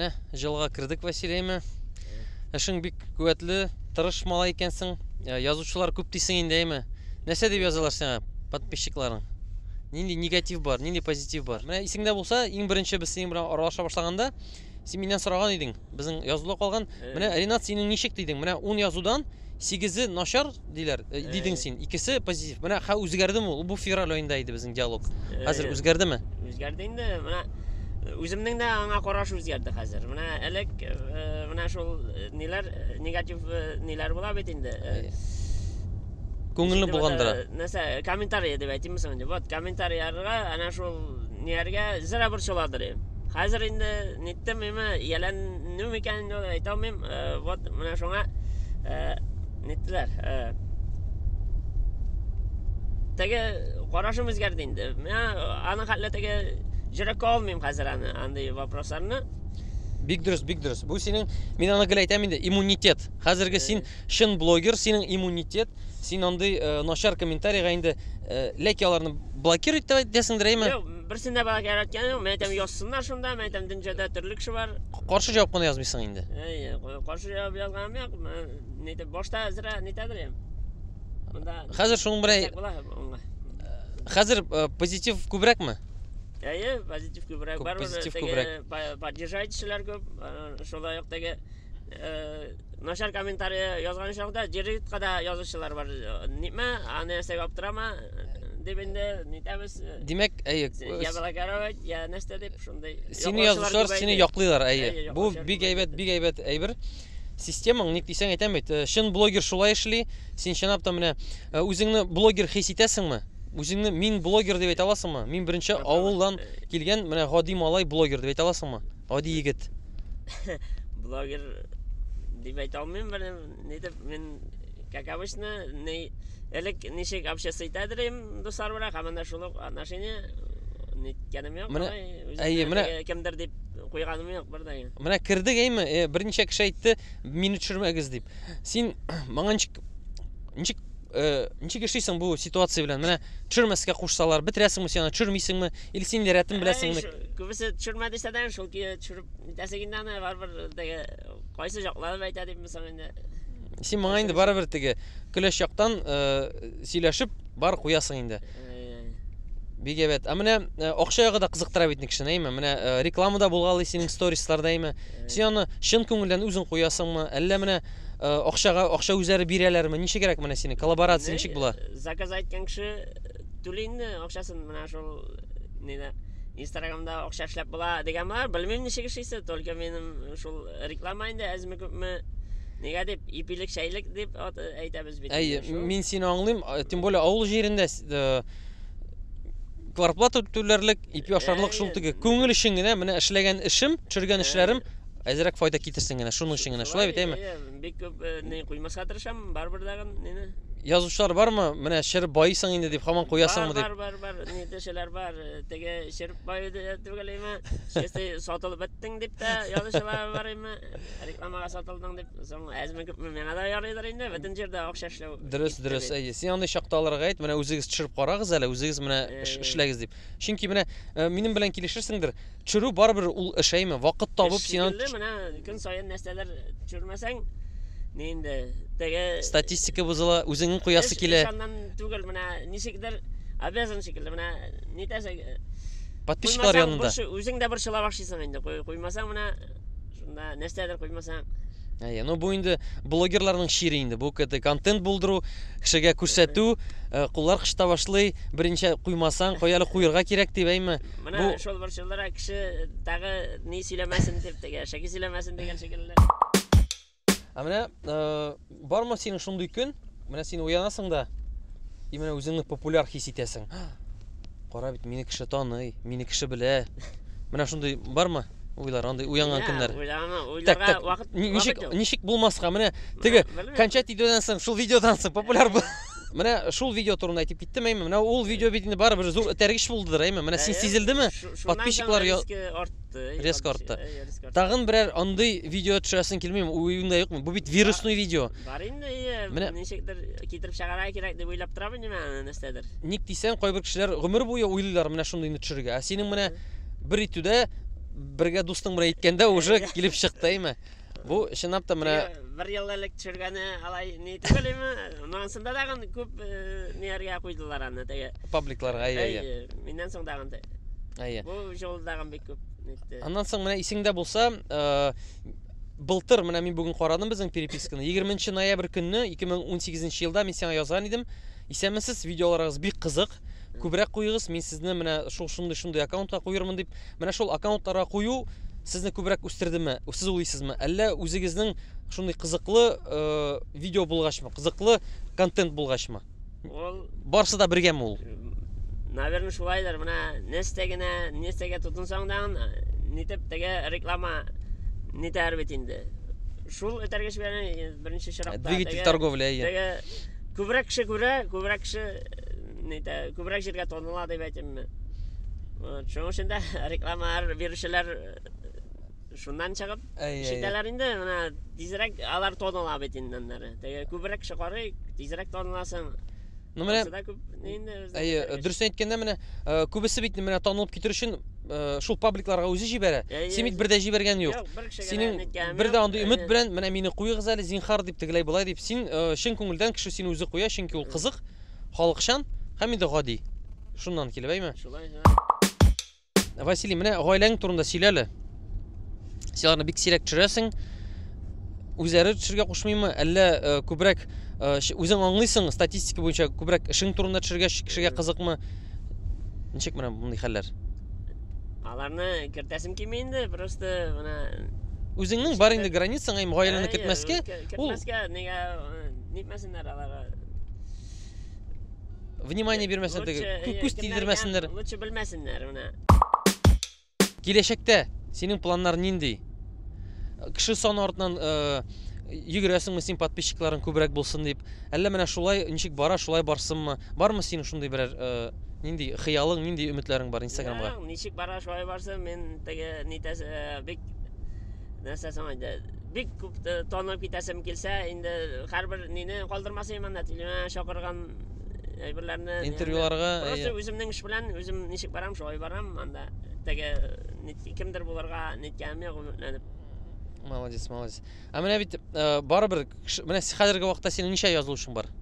Менә җылга кердек Василиеме. Эшең бик куәтле, тырыш малай икәнсең. Э, язучылар күп дисең инде, әйме? Нәрсә дип язалар сиңа подписчикларың? Нинди негатив бар, нинди позитив бар? Менә исеңдә булса, иң беренче без синең белән аралаша башлаганда, син миннән сораган идең, безнең язуда калган. Менә Ренат синең ничек дидең? Менә 10 язудан Сигезе начар диләр, э, дидең син. Икесе позитив. Менә хә үзгәрдеме ул? Бу февраль аенда иде безнең диалог. Хәзер үзгәрдеме? Үзгәрде инде. Менә э, үземнең дә аңа караш үзгәрде хәзер. Менә элек э, менә шул э, ниләр э, негатив э, ниләр була бит инде. э, Күңелне булгандыра. Нәрсә, комментарий дип әйтимме соң инде? Вот комментарийларга әнә шул нияргә зря борчыладыр. Хәзер инде ниттем миме, ияләнү микән инде әйтә алмыйм. Э, вот менә шуңа э, ниттеләр. Э. Теге карашым үзгәрде инде. Менә аның хәтле теге җөрәккә алмыйм хәзер аны, андый вопросларны. Бик дөрес, бик дөрес. Бу синең, мин аны гел әйтәм инде, иммунитет. Хәзерге син чын блогер, синең иммунитет. Син андый начар комментарийга инде ләки аларны блокировать итәсеңдер, әйме? Берсен дә бәгә яраткан юк. Мен әйтәм, язсыннар шунда. Мен әйтәм, дөнҗәдә төрле кеше бар. Каршы җавап кына язмыйсың инде. Әйе, каршы җавап язганым юк. Мен әйтәм, башта әзрә нитәдер ям. Монда Хәзер шуның белән Тәк була онга. хәзер э, позитив күбрәкме? Әйе, позитив күбрәк Күп бар. позитив Теге күбрәк. па- Поддержать кешеләр күп. Э, Шулай ук теге начар комментарий язган очракта җиритка да язучылар бар нитмә аны нәрсәгә аптырама дип инде нитәбез димәк әйе я балакаровать я нәрсә дип шундый сине язучылар сине яклыйлар әйе бу бик әйбәт бик әйбәт әйбер системаң ник дисәң әйтәм бит чын блогер шулай эшли син чынлап та менә үзеңне блогер хис итәсеңме үзеңне мин блогер дип әйтә аласыңмы мин беренче авылдан килгән менә гади малай блогер дип әйтә аласыңмы Гади егет. Блогер дип әйтә алмыйм, бер нидер мин как обычно, ни элек ничек общаться итә идем дуслар белән, һәм менә шул ук отношение ниткәнем юк. Менә әйе, менә кемдер дип куйганым юк бер дә. Менә кердек әйме, э, берничә кеше әйтте, мине төшермәгез дип. Син моңа ничек ничек Э, ничек эшлисең бу ситуация белән? Менә төшермәскә кушсалар, бетерәсеңме син аны, төшермисеңме? Или син инде рәтен беләсеңме? Күбесе төшермә дисә дә, шул ки төшереп битәсең инде аны, барыбер теге кайсы җаклары әйтә димме соң инде. Син моңа инде барыбер теге көләч яктан э, сөйләшеп бар куясың инде. Бик әйбәт. Ә менә э, акча ягы да кызыктыра бит кешене, әйме? Менә э, рекламада булгалый синең сторисларда, әйме? Син аны чын күңелдән үзең куясыңмы? Әллә менә Акчага акча үзләре бирәләрме? Ничегрәк менә синең коллаборация ничек була? Заказ әйткән кеше түли инде акчасын менә шул нидә Инстаграмда акча эшләп була дигән бар. Белмим ничек эшлисе, только минем шул реклама инде әзме күпме Нигә дип ипилек шәйлек дип әйтәбез бит. Әйе, мин сине аңлыйм, тем более авыл җирендә квартплата түләрлек, ипи ашарлык шул теге күңел өчен генә менә эшләгән эшем, төшергән эшләрем Әзрәк файда китерсен генә, шуның өчен генә. Шулай бит, әйме? Бик күп э, не куймаска тырышам, барыбер дагы нене. Язучылар бармы? Менә шер байыйсың инде дип хаман куясыңмы дип. Бар, бар, бар, не дешеләр бар. Э, теге шер байы түгел әйме? Чисти сатылып беттең дип тә язучылар бар әйме? Рекламага сатылдың дип, соң әзме күпме миңа да ярыйдыр инде, бөтен җирдә акча эшләү. Дөрес, дөрес, әйе. Син андый чакта аларга әйт, менә үзегез төшереп карагыз әле, үзегез менә э. эшләгез дип. Чөнки менә э, минем белән килешерсеңдер, чөрү барыбер ул эшәйме, вакыт табып син аны менә көн саен нәрсәләр чөрмәсәң, ни инде теге статистика бозыла, үзеңнең куясы килә. Ишаннан түгел, менә ничектер обязан шикелле, менә нитәсең. Подписчиклар янында. Үзең дә борчыла башлыйсың инде, куймасаң менә шунда нәрсәдер куймасаң әйе ну бу инде блогерларның чире инде бу кт контент булдыру кешегә күрсәтү э, куллар кышта башлый беренче куймасаң кой әле куерга кирәк дип әйме менә Бу- шул борчылдыра кеше тагы ни сөйләмәсен дип теге шәки сөйләмәсен дигән шикелле Ә менә э, бармы синең шундый көн? Менә син уянасың да, и менә үзеңне популяр хис итәсең. Кара бит, мине кеше таный, мине кеше белә. Менә шундый бармы? Уйлар, андый уянган көннәр. Так, так. Ничек, ничек булмаска? Менә теге кончать видеодан соң, шул видеодан соң популяр бул. Менә шул видео турында әйтеп киттем, әйме. Менә ул видео бит инде барыбер зур этәргеч булдыдыр, әйме. Менә син сизелдеме? Подписчиклар артты. Резко артты. Э, э, Тагын берәр андый видео төшерәсең килмиме? Уюңда юкмы? Бу бит вирусный видео. Бар инде, менә ничектер китереп чыгарга кирәк дип уйлап торам инде мен нәрсәдер. Ник дисәң, кайбер кешеләр гомер буе уйлыйлар менә шундыйны төшерергә. Ә синең менә бер итүдә бергә дустың белән иткәндә уже килеп чыкты, әйме? Бу чынлап та менә бер ел элек төшергәне алай ни түгел име? Монысында тагын күп ниләргә куйдылар аны теге. Пабликларга әйе әйе. Миннән соң тагын да. Әйе. Бу җыл тагын бик күп нитте. Аннан соң менә исеңдә булса, былтыр менә мин бүген карадым безнең переписканы. 20 ноябрь көнне 2018 елда мин сиңа язган идем. Исәнмесез, видеоларыгыз бик кызык. Күбрәк куегыз, мин сезне менә шул шундый-шундый аккаунтка куермын дип Менә шул аккаунтларга кую сезне күбрәк үстердеме? Сез уйлыйсызмы? Әллә үзегезнең шундый кызыклы э, видео булгачмы, кызыклы контент булгачмы? Ул, Барсы да бергәме ул? наверное, шулайдыр. Менә нәрсә генә, нәрсәгә тотынсаң да, аны, нитеп теге реклама нитәр бит инде. Шул этәргеч белән э, беренче чиратта. Двигатель теге- торговля. иә. Теге күбрәк кеше күрә, күбрәк кеше нидә, күбрәк җиргә тоныла дип әйтимме. Шуның өчен дә рекламалар бирүчеләр шуннан чыгып ишетәләр инде менә тизрәк алар тоныла бит инде аннары теге күбрәк шыкарый тизрәк тоныласың ну менә әйе дөрес әйткәндә менә э, күбесе бит менә танылып китер өчен э, шул пабликларга үзе җибәрә син бит бер дә җибәргән юк синең бер дә андый өмет белән менә мине куегыз әле зинхар дип тегеләй болай дип син э, чын күңелдән кеше сине үзе куя чөнки ул кызык Халыкчан һәм инде гади. Шуннан килеп, әйме? Шулай, һә. Василий, менә гаиләң турында сөйлә әле. Син аларны бик сирәк төшерәсең. Үзләре төшергә кушмыймы, әллә э, күбрәк э, үзең аңлыйсың статистика буенча күбрәк эшең турында төшергә кешегә э. кызыкмы? Ничек менә мондый хәлләр? Аларны кертәсем килми инде, просто менә Үзеңнең бар инде границаң, әйм гаиләне кертмәскә. Кертмәскә, нигә нитмәсеннәр алар? внимание бирмәсен теге күз тидермәсеннәр лучше белмәсеннәр менә киләчәктә синең планнар нинди кеше саны артыннан э, йөгерәсеңме син подписчикларың күбрәк булсын дип әллә менә шулай ничек бара шулай барсынмы бармы синең шундый берәр э, нинди хыялың нинди өметләрең бар инстаграмга ничек бара шулай барсын мин теге нитәсе э, бик нәрсәсен Бик күп э, танып китәсем килсә, инде һәрбер нине калдырмас идем анда телевидение э, чакырган әйберләрне. Интервьюларга. Просто үземнең эш белән үзем ничек барам, шулай барам анда. Теге кемдер булырга ниткәнем юк өметләнеп. Молодец, молодец. Ә менә бит э, барыбер менә хәзерге вакытта синең ничә язылучың бар?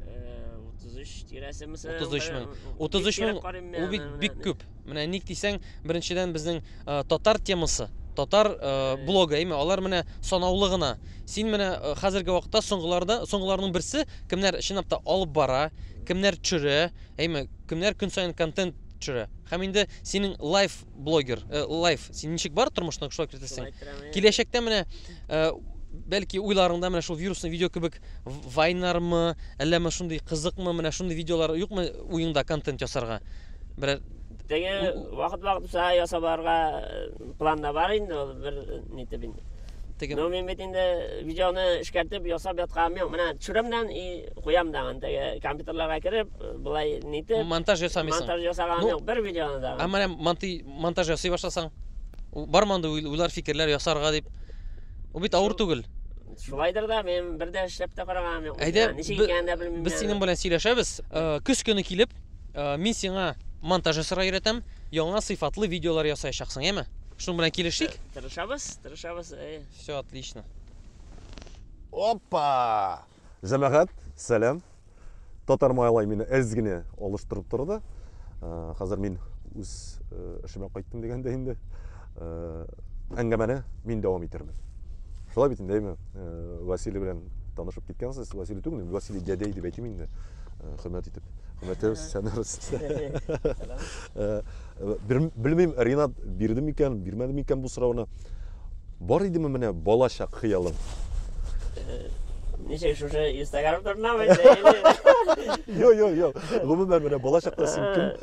33 тирәсе мисәлән. 33 мең. 33 мең. Ул бит бик күп. Менә ник дисәң, беренчедән безнең э, татар темасы, татар э, блогы, әйме, алар менә санаулы гына. Син менә э, хәзерге вакытта соңгыларда, соңгыларның берсе, кемнәр чынлап та алып бара, кемнәр төшерә, әйме, кемнәр көн саен контент төшерә. Һәм инде синең лайф блогер, э, лайф, син ничек бар тормышны шулай кертәсең. Киләчәктә менә э, бәлки уйларыңда менә шул вирусный видео кебек в- вайнармы, әллә ме шундый кызыкмы, менә шундый видеолар юкмы уеңда контент ясарга? бер Теге вакыт вакыт буса ясаларга план да бар инде ул бер нитеп инде. Теге. Но мин бит инде видеоны эшкәртеп ясап ятканым юк. Менә төшеремнән и куям да аны теге компьютерларга кереп, булай нитеп. Монтаж ясамыйсың. Монтаж ясаганым юк, бер видеоны да. Ә менә монтаж ясый башласаң, бар монда уйлар, фикерләр ясарга дип. Ул бит авыр түгел. Шулайдыр да, мин бер дә эшләп тә караганым юк. Әйдә, ничек икәнен дә белмим. Без синең белән сөйләшәбез. Э, көз көне килеп, Э, мин сиңа монтажы сыра өйрәтәм, яңа сыйфатлы видеолар ясаячаксың, яме? Шуның белән килешик? Тырышабыз, тырышабыз. Э. Все отлично. Опа! Җәмәгать, сәлам. Татар майлай мине әз генә алыштырып торды. Э, хәзер мин үз эшемә кайттым дигәндә инде. әңгәмәне мин дәвам итермен. Шулай бит инде, әйме? Василий белән танышып киткәнсез. Василий түгел, Василий дядей дип әйтим инде. Хөрмәт итеп. Хөрмәтле сәнәр Белмим, Ринат бирде микән, бирмәде микән бу сорауны. Бар идеме менә балачак хыялың? Ничек шушы Instagram турында ме? Йо, йо, йо. Гомумән менә балачакта син кем?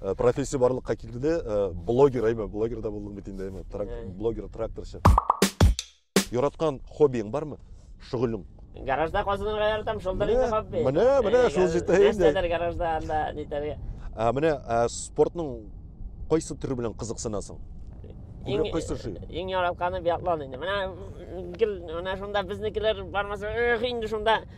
Э, профессия барлыкка килде э, блогер әйме блогер да булдым бит инде әйме блогер тракторчы яраткан хоббиң бармы шөгылең гаражда казынырга яратам шулдыр инде хобби менә менә шул җитә инде нәрсәдер гаражда анда нитәргә ә менә спортның кайсы төре белән кызыксынасың иң кайсы ши иң яратканы биатлон инде менә гел менә шунда безнекеләр бармаса эх инде шунда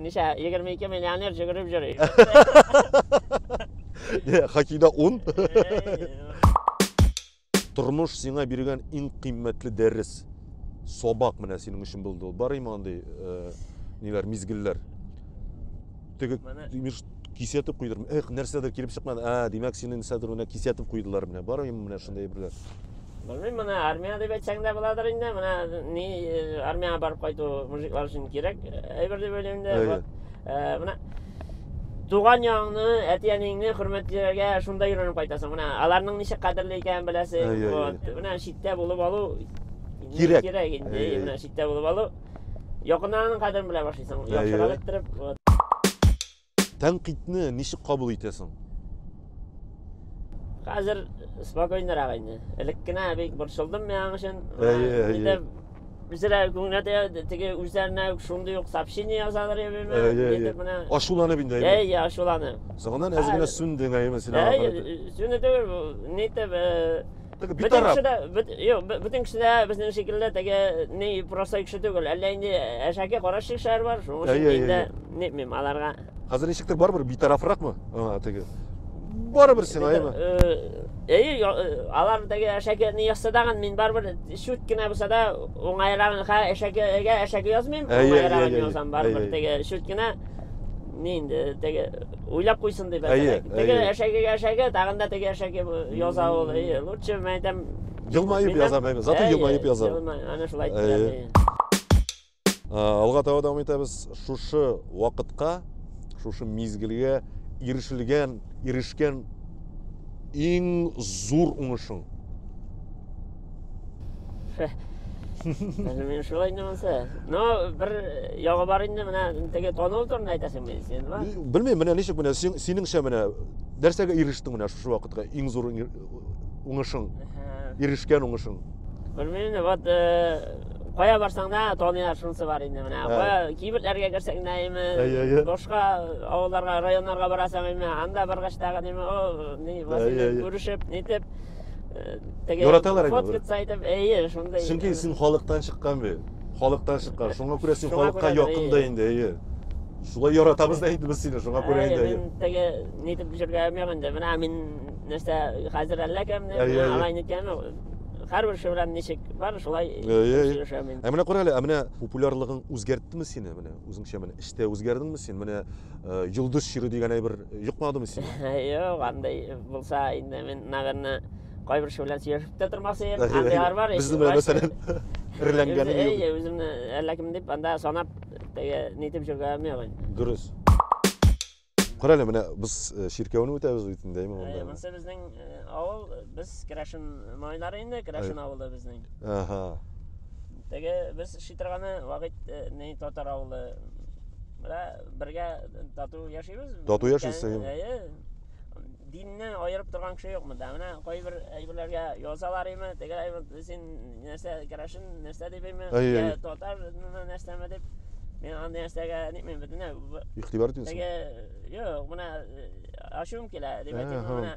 Ничә? 22 миллионер җөгереп йөри. Хоккейда 10. Тормыш сиңа биргән иң кыйммәтле дәрес. Сабак менә синең өчен булды. Бар име андый э, ниләр, мизгелләр? Теге Кисәтеп куйдырмы? Эх, нәрсәдер килеп чыкмады. А, димәк, сине нәрсәдер менә кисәтеп куйдылар менә. Бар инде менә шундый әйберләр. Белмим, менә армия дип әйтсәң дә буладыр инде. Менә ни э, армиягә барып кайту мужиклар өчен кирәк э, әйбер дип уйлыйм инде. Әйе. Вот. Э, Менә туган ягыңны, әти-әниеңне хөрмәтләргә шунда өйрәнеп кайтасың. Менә аларның ничек кадерле икәнен беләсең. Әйе, әйе, Вот. Менә читтә булып алу Кирәк. кирәк инде. Әйе, Әйе, әйе. Менә читтә булып алу. Якыннан кадерен белә башлыйсың. Яхшыга иттереп, вот. Тәнкыйтьне ничек кабул итәсең? Хәзер спокойнырак инде. Элек кенә бик борчылдым мен аның өчен. Әйе, Үзләре күңелгә тә теге үзләренә шундый ук сообщение язалар я бирмә. Ачуланып инде. Әйе, ачуланып. Соңыннан әз генә сүндең, әйе, мәсәлән. Әйе, сүнде түгел, нитеп Теге Бөтен битараф. кеше дә, бөт- юк, бө- бөтен кеше дә безнең шикелле теге ни простой кеше түгел. Әллә инде әшәке караш шешәр бар, шуның Әй, өчен әй, инде әй. нитмим аларга. Хәзер ничектер барыбер битарафракмы? Аңа теге. Барыбер сиңа, әйме? Э, Әйе, я- э, алар теге әшәке ни язса дагын мин барыбер чүт кенә булса да уңайрагын ха әшәкегә әшәке язмыйм, Әйе, әйе, уңайрагын әйе, язам әйе, барыбер әйе. теге чүт кенә ни инде теге уйлап куйсын дип әйе теге әшәкегә әшәке тагын да теге әшәке яза ул әйе лучше мен әйтәм елмаеп яза зато елмаеп яза ана шулай алга таба дәвам итәбез шушы вакытка шушы мизгелгә ирешелгән ирешкән иң зур уңышың Әле мин шулай инде монсы. Но бер ягы бар инде менә теге тонул турында әйтәсең мин син бар. Белмим, менә ничек менә син синеңчә менә нәрсәгә ирештең менә шушы вакытка иң зур уңышың? Ирешкән уңышың? Белмим инде, вот кая барсаң да таныйлар шунысы бар инде менә. Кая кибетләргә керсәң дә име, башка авылларга, районнарга барасың име, анда баргач тагын име, о, ни, күрешеп, нитеп. теге Яраталар инде фотка сайтып, әйе, шундый. Чөнки син халыктан чыккан бит. Халыктан чыккан. Шуңа күрә син халыкка якын да инде, әйе. Шулай яратабыз да инде без сине, шуңа күрә инде. Әйе, мин теге нитеп җөргә алмыйм инде. Менә мин нәрсә хәзер әллә кемне, менә алай ниткән һәрбер кеше белән ничек бар, шулай сөйләшәм мин. Ә менә кара әле, ә менә популярлыгың үзгәрттеме сине менә? Үзеңчә менә эштә үзгәрдеңме син? Менә Йолдыз чиры дигән әйбер йокмадымы сиңа? Юк, андай булса инде мин, наверное, кайбер кеше белән сөйләшеп тә тормас идем. Андыйлар бар. Безне белән мәсәлән реләнгән. Әйе, үземне әллә кем дип анда санап теге нитеп җөргәнем юк инде. Дөрес. Кара әле, менә без чиркәүне үтәбез бит инде, әйме монда. Монсы безнең авыл, без Крашин малайлары инде, Крашин авылы безнең. Ага. Теге без шитырганы вакыт э, не татар авылы. Менә бергә тату яшибез. Тату яшибез, Өлкән- әйе. әйе. Динне аерып торган кеше юк монда. Менә кайбер әйберләргә язалар име, теге әйбер син нәрсә керәшен, нәрсә дип име, Әйе, я әйе. татар нәрсәме дип. Мин андый нәрсәгә нитмим бөтенләй. Бу- Игътибар итмисең. Теге юк, менә э, ачуым килә дип Әһә. әйтәм, менә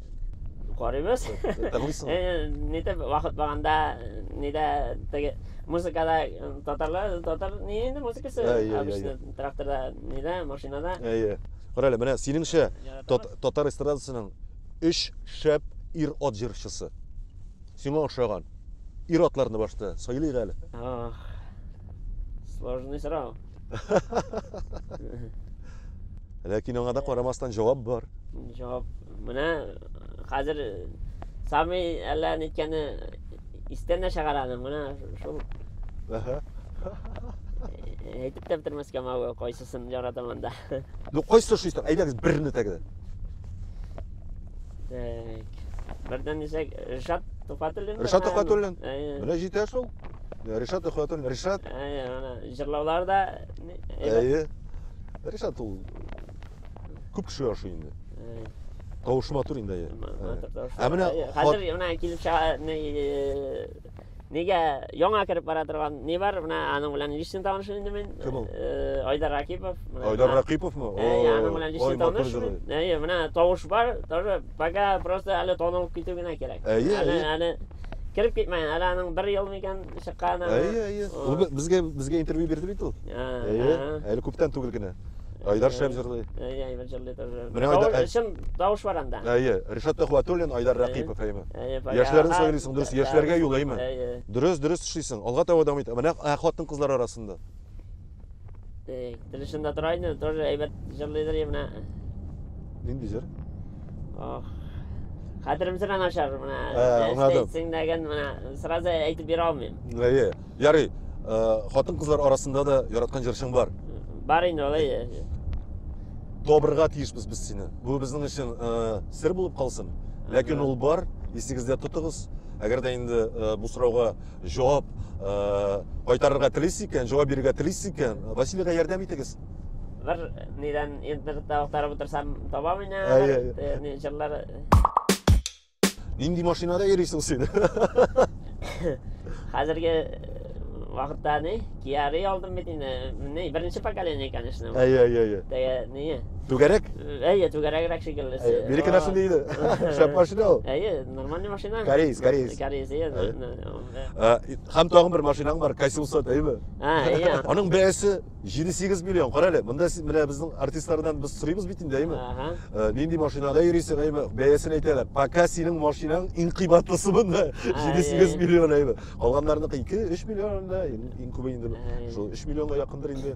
Карыйбыз. Танысың. Э, Нитеп вакыт барганда, нидә теге музыкада э, татарлар, татар ни инде музыкасы? Әй, әй, Обычно тракторда, нидә, машинада. Әйе. Кара әле, менә синеңчә тат, татар эстрадасының өч шәп ир-ат җырчысы. Сиңа ошаган. Ир-атларны башта сайлыйк әле. Ох. Сложный сорау. Ләкин аңа да карамастан җавап бар. Җавап. Менә хәзер Сами әллә ниткәне истән дә чыгара аны. Менә шул. Әһә. Әйтеп тә бетермәскә мәгә кайсысын яратам анда. Ну кайсы ошыйсың? Әйдәгез берне тәгәр. Так. Бердән дисәк, Ришат Туфатуллин. Ришат Туфатуллин. Менә җитә шул. Ришат ихлатым, Ришат. Әйе, ана җырлаулар да Әйе. Ришат ул күп кеше ашый инде. Әйе. Тавышы матур инде. Ә менә хәзер менә килеп чыга Нигә яңа кереп бара торган не бар, менә аның белән лично танышым инде мин. Кем ул? Э, Айдар Ракипов. Айдар Ракиповмы? Әйе, аның белән лично таныш. Әйе, менә тавыш бар, тоже Пока просто әле танылып китү генә кирәк. Әйе, әле, әйе. әле кереп китмәгән, әле аның бер ел микән чыккан әле. Әйе, әйе. Ул безгә безгә интервью бирде бит ул. Әйе, әле күптән түгел генә. Айдар шәп җырлый. Әйе, Айдар җырлый тоже. Менә Айдар чын тавыш бар анда. Әйе, Ришат Төхвәтуллин, Айдар Рәкыйпов, әйеме? Яшьләрне сайлыйсың, дөрес, яшьләргә юл, әйеме? Дөрес, дөрес эшлисең. Алга таба дәвам ит. Менә хатын-кызлар арасында. Тик, тырышында тора инде, тоже әйбәт җырлыйдыр менә. Нинди җыр? Ох. Хәтеремсен аңа шар менә. Әйтсең дәген менә сразу әйтеп бирә алмыйм. Әйе. Ярый. Хатын-кызлар арасында да яраткан җырчың бар. Бар инде алай. Табырга тиешбез без сине. Бу безнең өчен сер булып калсын. Ләкин ул бар, исегездә тотыгыз. Әгәр дә инде бу сорауга Җавап кайтарырга телисез икән, җавап бирергә телисез икән, Василийга ярдәм итегез. Бер нидән интернетта актарып утырсам табам инде. Әйе. Җырлар. Нинди машинада йөрисең син? Хәзерге вакытта ни? Кияри алдым бит инде. Менә беренче поколение, конечно. Әйе, әйе, әйе. Теге ни? Түгәрәк? Әйе, түгәрәгрәк шикелле. Әйе, бирекенәсен диде. Шәп машина ул. Әйе. Нормальный машина. Кореец, кореец. Кореец, иә. Һәм тагын бер машинаң бар, Кассиуса, дәйме? Ә, иә. Аның бәясе 7-8 миллион. Кара әле, монда менә безнең артистлардан без сорыйбыз бит инде, дәйме? Ага. Нинди машинада йөрисең, дәйме? Бәясен әйтәләр. Пока синең машинаң иң кыйбатлысы монда 7-8 миллион, дәйме? Калганнарныкы 2-3 миллион да, иң күбе инде шул 3 миллионга якындыр инде.